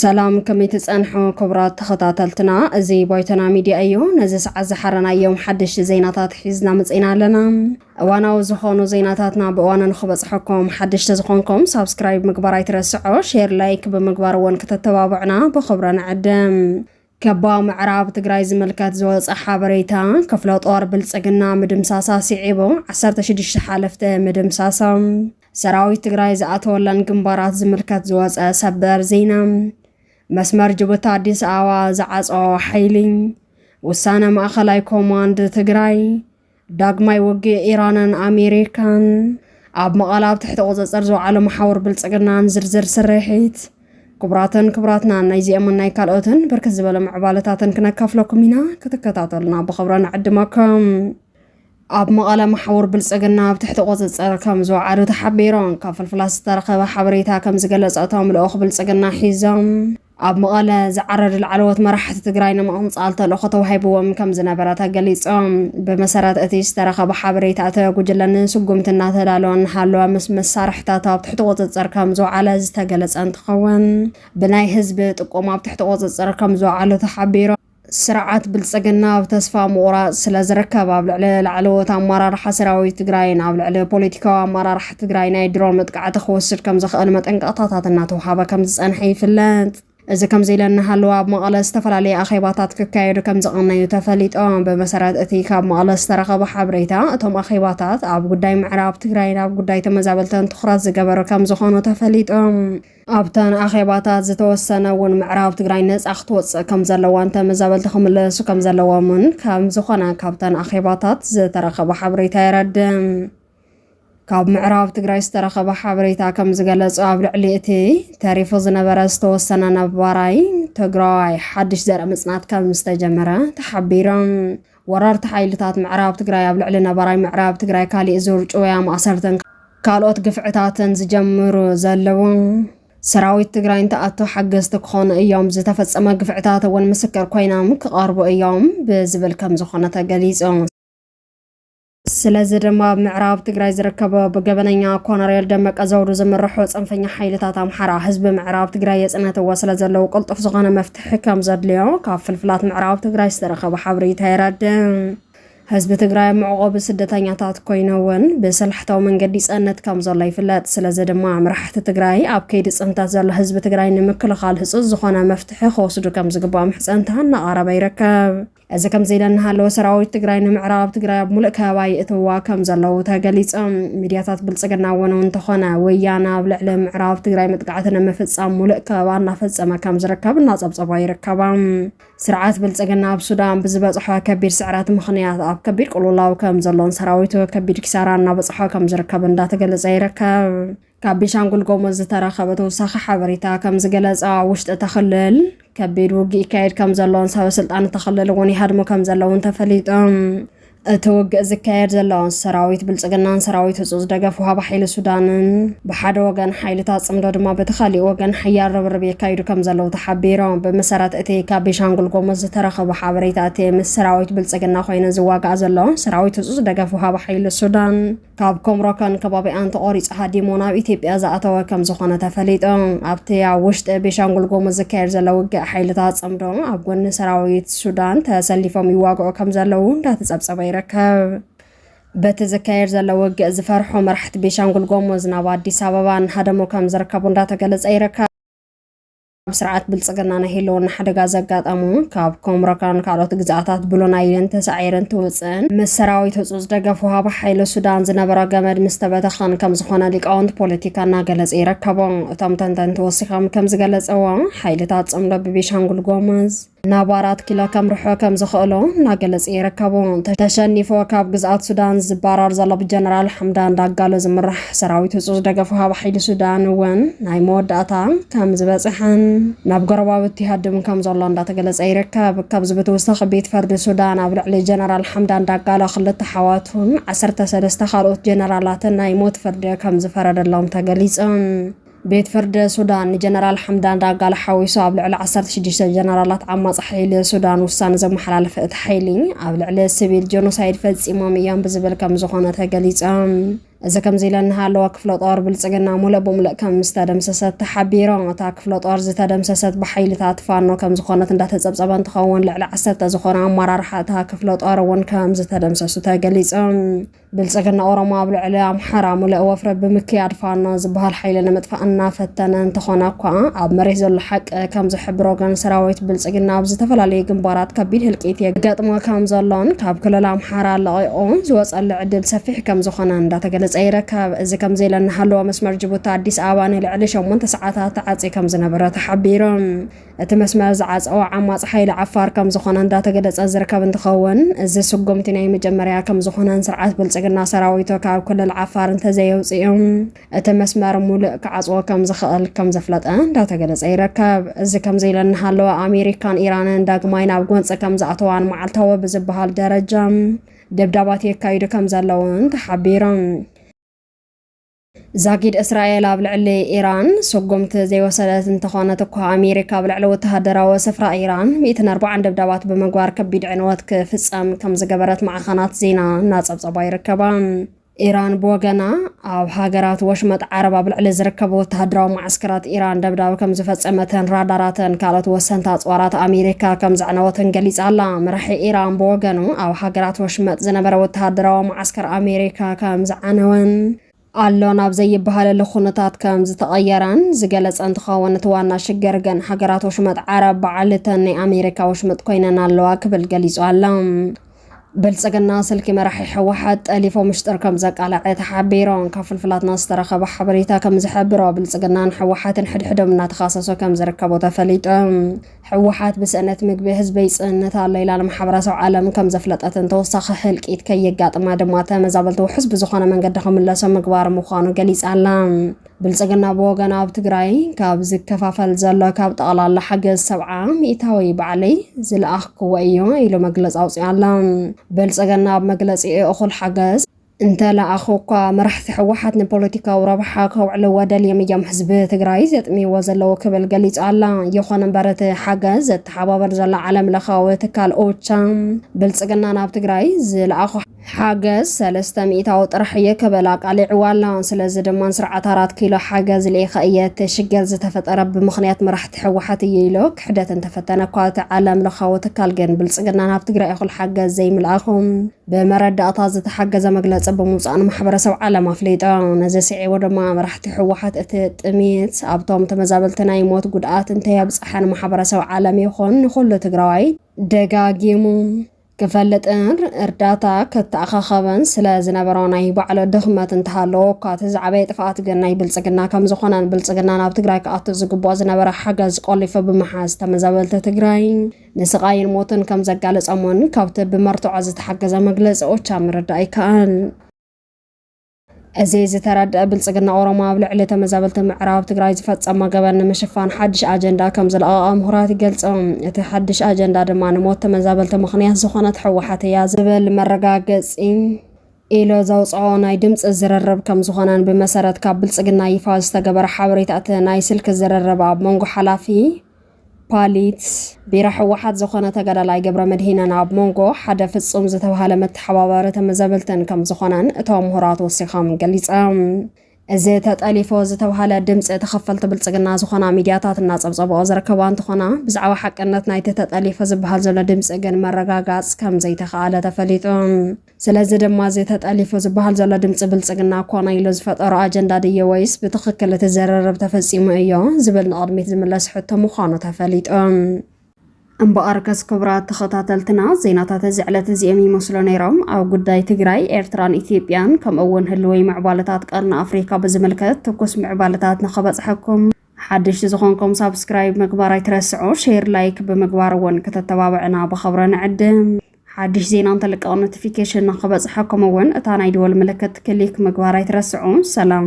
ሰላም ከመይ ትፀንሑ ክቡራት ተኸታተልትና፣ እዚ ባይቶና ሚድያ እዩ። ነዚ ሰዓት ዝሓረናዮም ሓደሽቲ ዜናታት ሒዝና መፅና ኣለና። እዋናዊ ዝኾኑ ዜናታትና ብእዋኑ ንኽበፅሐኩም ሓድሽ ተዝኾንኩም ሳብስክራይብ ምግባር ኣይትረስዑ፣ ሼር ላይክ ብምግባር እውን ክተተባብዑና ብኽብረ ንዕድም። ከባ ምዕራብ ትግራይ ዝምልከት ዝወፀ ሓበሬታ፣ ክፍለ ጦር ብልፅግና ምድምሳሳ ስዒቡ ዓሰርተ ሽዱሽተ ሓለፍቲ ምድምሳሶም። ሰራዊት ትግራይ ዝኣተወለን ግንባራት ዝምልከት ዝወፀ ሰበር ዜና። መስመር ጅቡቲ ኣዲስ ኣበባ ዝዓፀዎ ሓይሊ። ውሳነ ማእኸላይ ኮማንድ ትግራይ። ዳግማይ ውግእ ኢራንን ኣሜሪካን፣ ኣብ መቐለ ኣብ ትሕቲ ቁፅፅር ዝወዓለ መሓውር ብልፅግናን ዝርዝር ስርሒት ክቡራትን ክቡራትና ናይዚኦምን ናይ ካልኦትን ብርክት ዝበለ ምዕባለታትን ክነካፍለኩም ኢና ክትከታተሉና ብኽብረ ንዕድመኩም ኣብ መቐለ መሓውር ብልፅግና ኣብ ትሕቲ ቁፅፅር ከም ዝወዓሉ ተሓቢሮም ካብ ፍልፍላት ዝተረኸበ ሓበሬታ ከም ዝገለፀ እቶም ልኡኽ ብልፅግና ሒዞም ኣብ መቐለ ዝዓረዱ ላዕለዎት መራሕቲ ትግራይ ንምቕንጻል ተልእኾ ተዋሂብዎም ከም ዝነበረ ተገሊጾም። ብመሰረት እቲ ዝተረኸበ ሓበሬታ እቲ ጉጅለ ንስጉምቲ እናተዳለወ እናሃለወ ምስ መሳርሕታቱ ኣብ ትሕቲ ቁጽጽር ከም ዝወዓለ ዝተገለጸ እንትኸውን ብናይ ህዝቢ ጥቆማ ኣብ ትሕቲ ቁጽጽር ከም ዝወዓሉ ተሓቢሩ። ስርዓት ብልፅግና ኣብ ተስፋ ምቑራፅ ስለዝርከብ ኣብ ልዕሊ ላዕለዎት ኣመራርሓ ሰራዊት ትግራይን ኣብ ልዕሊ ፖለቲካዊ ኣመራርሓ ትግራይ ናይ ድሮን መጥቃዕቲ ክወስድ ከምዝኽእል መጠንቀቕታታት እናተውሃበ ከምዝፀንሐ ይፍለጥ። እዚ ከምዚ ኢለ እናሃለወ ኣብ መቐለ ዝተፈላለዩ ኣኼባታት ክካየዱ ከምዝቐነዩ ተፈሊጦም። ብመሰረት እቲ ካብ መቐለ ዝተረኸበ ሓበሬታ እቶም ኣኼባታት ኣብ ጉዳይ ምዕራብ ትግራይን ኣብ ጉዳይ ተመዛበልትን ትኹረት ዝገበሩ ከምዝኾኑ ተፈሊጡ። ኣብተን ኣኼባታት ዝተወሰነ እውን ምዕራብ ትግራይ ነፃ ክትወፅእ ከምዘለዋን ተመዛበልቲ ክምለሱ ከምዘለዎምን ከምዝኾነ ካብተን ኣኼባታት ዝተረኸበ ሓበሬታ የረድእ። ካብ ምዕራብ ትግራይ ዝተረኸበ ሓበሬታ ከምዝገለፆ ኣብ ልዕሊ እቲ ተሪፉ ዝነበረ ዝተወሰነ ነባራይ ትግራዋይ ሓድሽ ዘርኢ ምፅናት ከምዝተጀመረ ተሓቢሮም ወረርቲ ሓይልታት ምዕራብ ትግራይ ኣብ ልዕሊ ነባራይ ምዕራብ ትግራይ ካሊእ ዙር ጭውያ፣ ማእሰርትን ካልኦት ግፍዕታትን ዝጀምሩ ዘለዉ ሰራዊት ትግራይ እንትኣቱ ሓገዝቲ ክኾኑ እዮም፣ ዝተፈፀመ ግፍዕታት እውን ምስክር ኮይኖም ክቐርቡ እዮም ብዝብል ከምዝኾነ ተገሊፁ። ስለዚ ድማ ኣብ ምዕራብ ትግራይ ዝርከበ ብገበነኛ ኮነሬል ደመቀ ዘውዱ ዝምርሑ ፅንፈኛ ሓይልታት ኣምሓራ ህዝቢ ምዕራብ ትግራይ የፅነትዎ ስለዘለዉ ቅልጡፍ ዝኾነ መፍትሒ ከምዘድልዮ ካብ ፍልፍላት ምዕራብ ትግራይ ዝተረኸበ ሓበሬታ የረድእ። ህዝቢ ትግራይ ኣብ መዕቖቢ ስደተኛታት ኮይኑ እውን ብስልሕታዊ መንገዲ ይፀንት ከምዘሎ ይፍለጥ። ስለዚ ድማ መራሕቲ ትግራይ ኣብ ከይዲ ፅንተት ዘሎ ህዝቢ ትግራይ ንምክልኻል ህፁፅ ዝኾነ መፍትሒ ክወስዱ ከምዝግባእ ምሕፀንታ እናቐረበ ይርከብ። እዚ ከምዚ ኢለ እናሃለወ ሰራዊት ትግራይ ንምዕራብ ትግራይ ኣብ ሙሉእ ከበባ የእትውዋ ከም ዘለዉ ተገሊፁ። ሚድያታት ብልፅግና እውን እውን እንተኾነ ወያነ ኣብ ልዕሊ ምዕራብ ትግራይ መጥቃዕቲ ንምፍፃም ሙሉእ ከበባ እናፈፀመ ከም ዝርከብ እናፀብፀባ ይርከባ። ስርዓት ብልፅግና ኣብ ሱዳን ብዝበፅሖ ከቢድ ስዕረት ምኽንያት ኣብ ከቢድ ቁልውላው ከም ዘሎን ሰራዊቱ ከቢድ ኪሳራ እናበፅሖ ከም ዝርከብ እንዳተገለፀ ይርከብ። ካብ ቤንሻንጉል ጎሙዝ ዝተረኸበ ተወሳኺ ሓበሬታ ከምዝገለጸ ኣብ ውሽጢ እታ ክልል ከቢድ ውግእ ይካየድ ከምዘሎን ሰበ ስልጣን እታ ክልል እውን ይሃድሙ ከምዘለውን ተፈሊጡ። እቲ ውግእ ዝካየድ ዘሎ ሰራዊት ብልጽግናን ሰራዊት ህጹጽ ደገፍ ውሃብ ሓይሊ ሱዳንን ብሓደ ወገን ሓይልታት ጽምዶ ድማ በቲ ካሊእ ወገን ሓያል ርብርብ የካይዱ ከም ዘለዉ ተሓቢሮም። ብመሰረት እቲ ካብ ቤንሻንጉል ጎሙዝ ዝተረኸቡ ሓበሬታ እቲ ምስ ሰራዊት ብልጽግና ኮይኑ ዝዋጋእ ዘሎ ሰራዊት ህጹጽ ደገፍ ውሃብ ሓይሊ ሱዳን ካብ ኮምሮከን ከባቢኣን ተቖሪጹ ሃዲሙ ናብ ኢትዮጵያ ዝኣተወ ከምዝኾነ ተፈሊጡ። ኣብቲ ኣብ ውሽጢ ቤሻንጉል ጉሙዝ ዝካየድ ዘሎ ውግእ ሓይልታት ጽምዶ ኣብ ጎኒ ሰራዊት ሱዳን ተሰሊፎም ይዋግዑ ከምዘለዉ እንዳተጸብጸበ ይርከብ። በቲ ዝካየድ ዘሎ ውግእ ዝፈርሑ መራሕቲ ቤሻንጉል ጎሙዝ ናብ ኣዲስ ኣበባ እናሃደሙ ከምዝርከቡ እንዳተገለጸ ይርከብ። ኣብ ስርዓት ብልጽግና ናይ ህልውና ሓደጋ ዘጋጠሙ ካብ ኮምሮካን ካልኦት ግዝኣታት ብሎናይልን ተሳዒርን ትውፅእን ምስ ሰራዊት ህፁፅ ደገፍ ውሃቢ ሓይሊ ሱዳን ዝነበረ ገመድ ምስ ተበተኸን ከም ዝኾነ ሊቃውንቲ ፖለቲካ እናገለጸ ይረከቦ። እቶም ተንተንቲ ወሲኾም ከም ዝገለጸዎ ሓይልታት ጽምዶ ብቤሻንጉል ጎሙዝ ናብ ኣራት ኪሎ ከምርሖ ከም ዝኽእሎ እናገለጸ ይርከቡ። ተሸኒፎ ካብ ግዝኣት ሱዳን ዝባራር ዘሎ ብጀነራል ሓምዳን ዳጋሎ ዝምራሕ ሰራዊት ህፁፅ ደገፉ ሃብ ሓይሊ ሱዳን እውን ናይ መወዳእታ ከም ዝበፅሐን ናብ ጎረባብቲ ይሃድም ከም ዘሎ እንዳተገለፀ ይርከብ። ካብዚ ብትውሳኺ ቤት ፈርዲ ሱዳን ኣብ ልዕሊ ጀነራል ሓምዳን ዳጋሎ ክልተ ሓዋቱን ዓሰርተ ሰለስተ ካልኦት ጀነራላትን ናይ ሞት ፍርዲ ከም ዝፈረደሎም ተገሊፁ። ቤት ፍርዲ ሱዳን ንጀነራል ሓምዳን ዳጋሎ ሓዊሱ ኣብ ልዕሊ ዓሰርተ ሽዱሽተ ጀነራላት ዓማጺ ሓይሊ ሱዳን ውሳነ ዘመሓላለፈ እቲ ሓይሊ፣ ኣብ ልዕሊ ስቪል ጀኖሳይድ ፈጺሞም እዮም ብዝብል ከም ዝኾነ ተገሊጹ። እዚ ከምዚ ኢለ እናሃለወ ክፍለ ጦር ብልጽግና ሙሉእ ብሙሉእ ከም ዝተደምሰሰት ተሓቢሩ። እታ ክፍለ ጦር ዝተደምሰሰት ብሓይልታት ፋኖ ከም ዝኾነት እንዳተጸብጸበ እንትኸውን ልዕሊ ዓሰርተ ዝኾኑ ኣመራርሓ እታ ክፍለ ጦር እውን ከም ዝተደምሰሱ ተገሊጹ። ብልፅግና ኦሮሞ ኣብ ልዕሊ ኣምሓራ ሙሉእ ወፍሪ ብምክያድ ፋኖ ዝበሃል ሓይሊ ንምጥፋእ እናፈተነ እንተኾነ እኳ ኣብ መሬት ዘሎ ሓቂ ከም ዝሕብሮ ግን ሰራዊት ብልፅግና ኣብ ዝተፈላለዩ ግንባራት ከቢድ ህልቂት የገጥሞ ከም ዘሎን ካብ ክልል ኣምሓራ ለቒቑ ዝወፀሉ ዕድል ሰፊሕ ከም ዝኾነ እንዳተገለፀ ይርከብ። እዚ ከምዚ ኢለ እናሃለወ መስመር ጅቡቲ ኣዲስ ኣበባ ንልዕሊ ሸሞንተ ሰዓታት ተዓፅዩ ከም ዝነበረ ተሓቢሩ። እቲ መስመር ዝዓፀወ ዓማፅ ሓይሊ ዓፋር ከምዝኾነ እንዳተገለፀ ዝርከብ እንትኸውን እዚ ስጉምቲ ናይ መጀመርያ ከምዝኾነን ስርዓት ብልፅግና ሰራዊቱ ካብ ክልል ዓፋር እንተዘየውፅኡ እቲ መስመር ሙሉእ ክዓፅዎ ከምዝኽእል ከምዘፍለጠ እንዳተገለፀ ይርከብ። እዚ ከምዚ ኢለ እናሃለወ ኣሜሪካን ኢራንን ዳግማይ ናብ ጎንፂ ከምዝኣተዋን መዓልታዊ ብዝበሃል ደረጃ ደብዳባት የካይዱ ከምዘለውን ተሓቢሮም። ዛጊድ እስራኤል ኣብ ልዕሊ ኢራን ስጉምቲ ዘይወሰደት እንተኾነት እኳ ኣሜሪካ ኣብ ልዕሊ ወተሃደራዊ ስፍራ ኢራን ሚእትን ኣርባዓን ደብዳባት ብምግባር ከቢድ ዕንወት ክፍጸም ከም ዝገበረት ማዕኸናት ዜና እናጸብጸባ ይርከባ። ኢራን ብወገና ኣብ ሃገራት ወሽመጥ ዓረብ ኣብ ልዕሊ ዝርከቡ ወተሃደራዊ መዓስከራት ኢራን ደብዳብ ከም ዝፈጸመትን ራዳራትን ካልኦት ወሰንቲ ኣጽዋራት ኣሜሪካ ከም ዘዕነወትን ገሊጻ ኣላ። መራሒ ኢራን ብወገኑ ኣብ ሃገራት ወሽመጥ ዝነበረ ወተሃደራዊ መዓስከራት ኣሜሪካ ከም ዝዓነወን ኣሎ ናብ ዘይበሃለሉ ኩነታት ከም ዝተቐየረን ዝገለፀ እንትኸውን እቲ ዋና ሽግር ግን ሃገራት ወሽመጥ ዓረብ በዓል እተን ናይ ኣሜሪካ ወሽመጥ ኮይነን ኣለዋ ክብል ገሊፁ ኣሎ። ብልፅግና ስልኪ መራሒ ህወሓት ጠሊፎ ምሽጥር ከም ዘቃለዐ ተሓቢሩ። ካብ ፍልፍላትና ዝተረኸበ ሓበሬታ ከም ዝሕብሮ ብልፅግናን ህወሓትን ሕድሕዶም እናተኻሰሱ ከም ዝርከቡ ተፈሊጡ። ህወሓት ብስእነት ምግቢ ህዝበይ ፅእነት ኣሎ ኢላ ንማሕበረሰብ ዓለም ከምዘፍለጠትን ተወሳኺ ህልቂት ከየጋጥማ ድማ ተመዛበልቲ ውሑስ ብዝኾነ መንገዲ ክምለሶ ምግባር ምዃኑ ገሊፃ ኣላ። ብልፅግና ብወገኑ ኣብ ትግራይ ካብ ዝከፋፈል ዘሎ ካብ ጠቕላላ ሓገዝ ሰብዓ ሚእታዊ ባዕለይ ዝለኣኽክዎ እዮ ኢሉ መግለፂ ኣውፂኡ ኣሎ። ብልፅግና ኣብ መግለፂኡ እኹል ሓገዝ እንተለኣኹኳ መራሕቲ ህወሓት ንፖለቲካዊ ረብሓ ከውዕልዎ ደልዮም እዮም ህዝቢ ትግራይ ዘጥምይዎ ዘለዉ ክብል ገሊፃ ኣላ። ይኹን እምበር እቲ ሓገዝ ዘተሓባብር ዘሎ ዓለም ለኻዊ ትካል ኦቻ ብልፅግና ናብ ትግራይ ዝለኣኾ ሓገዝ ሰለስተ ሚኢታዊ ጥራሕ እየ ክብል ኣቃሊዕዎ ኣሎ። ስለዚ ድማ ንስርዓት ኣራት ኪሎ ሓገዝ ልኢኸ እየ እቲ ሽግር ዝተፈጠረ ብምኽንያት መራሕቲ ህወሓት እዩ ኢሉ ክሕደት እንተፈተነ እኳ እቲ ዓለም ለኻዊ ትካል ግን ብልፅግና ናብ ትግራይ እኹል ሓገዝ ዘይምልኣኹ ብመረዳእታ ዝተሓገዘ መግለፂ ብምውፃእ ንማሕበረሰብ ዓለም ኣፍሊጦ። ነዚ ስዒቡ ድማ መራሕቲ ህወሓት እቲ ጥምየት ኣብቶም ተመዛበልቲ ናይ ሞት ጉድኣት እንተየብፀሐ ንማሕበረሰብ ዓለም ይኹን ንኹሉ ትግራዋይ ደጋጊሙ ክፈልጥን እርዳታ ከተኣኻኸበን ስለ ዝነበሮ ናይ ባዕሉ ድኽመት እንተሃለዎ እኳ እቲ ዝዓበየ ጥፍኣት ግን ናይ ብልፅግና ከም ዝኾነን ብልፅግና ናብ ትግራይ ክኣቱ ዝግብኦ ዝነበረ ሓገዝ ቆሊፉ ብምሓዝ ተመዛበልቲ ትግራይ ንስቓይን ሞትን ከም ዘጋለጾሞን ካብቲ ብመርትዖ ዝተሓገዘ መግለጺ ኦቻ ምርዳእ ይከኣል። እዚ ዝተረድአ ብልጽግና ኦሮሞ ኣብ ልዕሊ ተመዛበልቲ ምዕራብ ትግራይ ዝፈጸሞ ገበን ንምሽፋን ሓድሽ ኣጀንዳ ከም ዝለቐቐ ምሁራት ይገልጹ። እቲ ሓድሽ ኣጀንዳ ድማ ንሞት ተመዛበልቲ ምኽንያት ዝኾነት ሕወሓት እያ ዝብል መረጋገጺ ኢሎ ዘውፅኦ ናይ ድምፂ ዝርርብ ከም ዝኾነን ብመሰረት ካብ ብልፅግና ይፋ ዝተገበረ ሓበሬታ እቲ ናይ ስልኪ ዝርርብ ኣብ መንጎ ሓላፊ ፓሊት ቢራ ሕወሓት ዝኾነ ተጋዳላይ ገብረመድሂንን ኣብ ሞንጎ ሓደ ፍጹም ዝተብሃለ መተሓባባሪ ተመዘበልትን ከም ዝኾነን እቶም ምሁራት ወሲኾም ገሊጸም። እዚ ተጠሊፎ ዝተብሃለ ድምፂ ተኸፈልቲ ብልፅግና ዝኾና ሚዲያታት እናፀብፀበኦ ዝርከባ እንትኾና ብዛዕባ ሓቅነት ናይቲ ተጠሊፎ ዝበሃል ዘሎ ድምፂ ግን መረጋጋፅ ከም ዘይተኸኣለ ተፈሊጡ። ስለዚ ድማ እዚ ተጠሊፉ ዝበሃል ዘሎ ድምፂ ብልፅግና ኮነ ኢሉ ዝፈጠሮ ኣጀንዳ ድዩ ወይስ ብትኽክል እቲ ዝርርብ ተፈፂሙ እዮ ዝብል ንቕድሚት ዝምለስ ሕቶ ምዃኑ ተፈሊጡ። እምበኣርከስ ክቡራት ተኸታተልትና ዜናታት እዚ ዕለት እዚኦም ይመስሉ ነይሮም። ኣብ ጉዳይ ትግራይ፣ ኤርትራን ኢትዮጵያን ከምኡ እውን ህልዊ ምዕባለታት ቀርኒ ኣፍሪካ ብዝምልከት ትኩስ ምዕባለታት ንኸበፅሐኩም ሓደሽቲ ዝኾንኩም ሳብስክራይብ ምግባር ኣይትረስዑ፣ ሼር ላይክ ብምግባር እውን ከተተባብዕና ብኸብረ ንዕድም። ሓድሽ ዜና እንተልቀቕ ኖቲፊኬሽን ንክበፅሐኩም እውን እታ ናይ ደወል ምልክት ክሊክ ምግባር ኣይትረስዑ። ሰላም